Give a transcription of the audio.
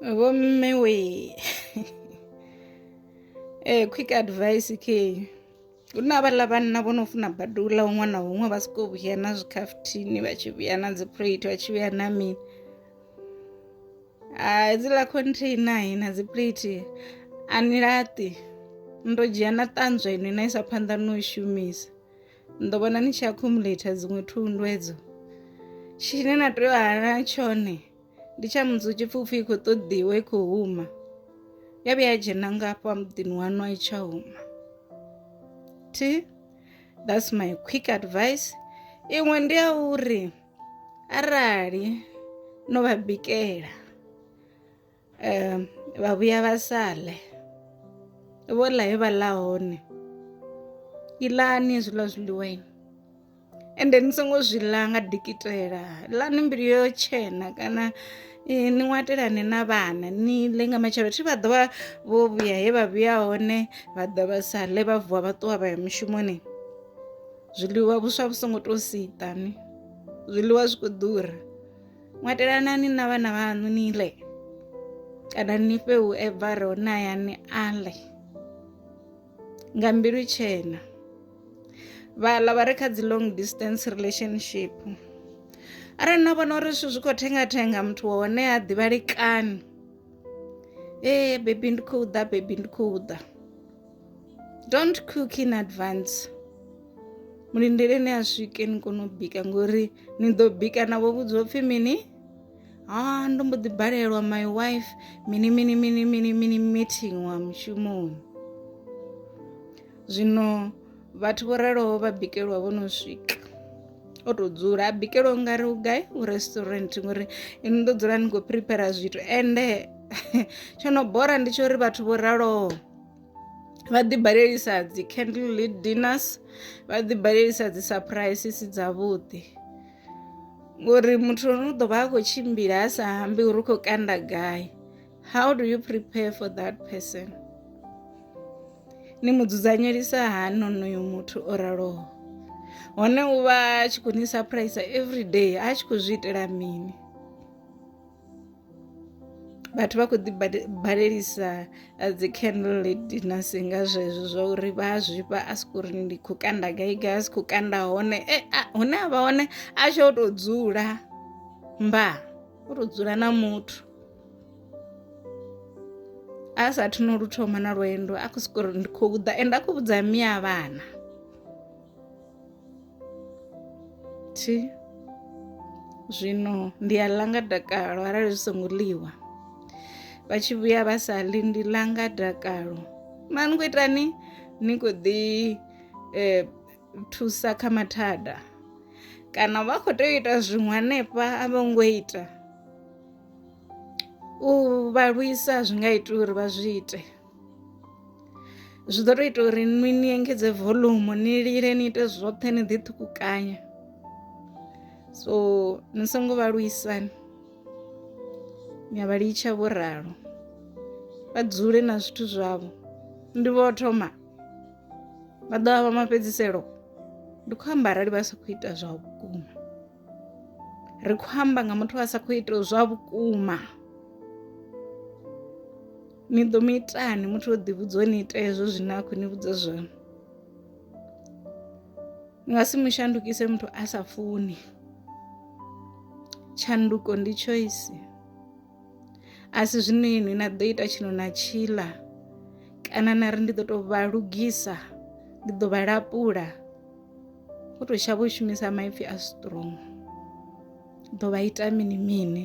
vhomme we eh quick advice ke hu na vhaḽa vhanna vho no funa badi u ḽa huṅwe na huṅwe vha soko vhuya na zwikhafuthini vha tshi vhuya na dzi plate vha tshi vhuya na mini a dziḽa container na dzi plate a ni laṱi ndo dzhia na ṱanzwa ino na isa phanḓa no i shumisa ndo vhona ni tshi accumulator dziṅwe thundu edzo tshine na tea u hana tshone ndi tsha mudzi tshipfupfi i khou ṱoḓiwa i khou huma ya vhuya ya dzhena ngafha muḓini waṋu a i tsha huma thi that's my quick advice iṅwe ndi ya uri arali no vha bikela um vha vhuya vha sa ḽe vho ḽa he vha ḽa hone iḽani hezwiḽa zwiḽiwaini ende ni songo zwi ḽa nga dikitela ḽani mbilu yo tshena kana eh, ni ṅwatelane na vhana ni ḽe nga matshelo thi vha ḓovha vho vhuya he vha vhuya hone vha ḓa vha sa ḽe vha vuwa vha ṱuwa vha ya mushumoni zwiḽiwa vhuswa vhu songo tou siṱani zwiḽiwa zwi khou ḓura ṅwatelanani na vhana vhaṋu ni ḽe kana ni fhe u evare hone hayani a ḽe nga mbilu tshena vhaḽa vha re kha dzi long distance relationship arali na vhona uri zwithu zwi khou thenga thenga muthu wa hone ha ḓivhalekani ee bebi ndi khou ḓa bebi ndi khou ḓa don't cook in advance mulindele ni a swike ni kone u bika ngori ni ḓo bika navho vhudzwa upfhi mini ha ndo mbo ḓi balelwa my wife mini mini mini mini mini meeting wa mushumoni zwino vhathu vho raloho vha bikelwa vho no swika o tou dzula a bikelwa ungari u gai u restaurant ngori ini ndo dzula ni khou prepare zwithu ende tsho no bora ndi tsho uri vhathu vho raloho vha ḓibalelisa dzi candle lead dinners vha ḓibalelisa dzi surprises dzavhuḓi ngori muthu ono ḓo vha a khou tshimbila a sa ambi uri u khou kanda gai how do you prepare for that person ni mu dzudzanyelisa hani onoyo muthu o raloho hone u vha a tshi khou ni surprise every day a tshi khou zwi itela mini vhathu vha khou ḓi balelisa eh, dzi candle dinners nga zwezwo zwa uri vha a zwifha a siko uri ndi khou kanda gai gai a si khou kanda hone e hune a vha hone a tsho o tou dzula mba o tou dzula na muthu a sa athu no lu thoma na lwendo a khou siko uri ndi khou ḓa ende a khou vhudza miya vhana Thi. Zwino ndi a ḽa nga dakalo arali zwi songo ḽiwa vha tshi vhuya vha sa ḽi ndi ḽa nga dakalo mara ni khou itani ni khou ḓi eh, thusa kha mathada kana vha khou tea u ita zwiṅwe hanefha a vho ngo ita u vha lwisa zwi nga ita uri vha zwi ite zwi ḓo tou ita uri ni ni engedze volume ni lile ni ite zwoṱhe ni ḓi ṱhukukanya so ni songo vha luisani ni a vha litsha vho ralo vha dzule na zwithu zwavho ndi vho thoma vha ḓo vha mafhedziselo ndi khou amba arali vha sa khou ita zwa vhukuma ri khou amba nga muthu a sa khou ita zwa vhukuma ni ḓo mu itani muthu o ḓivhudza o ni ita hezwo zwine a khou ni vhudza zwone ni nga si mu shandukise muthu a sa funi tshanduko ndi choice a si zwino inwi na ḓo ita tshino na tshila kana na ri ndi ḓo tou vha lugisa ndi ḓo vha lapula u tou shavha u shumisa maipfhi a strong ḓo vha ita mini mini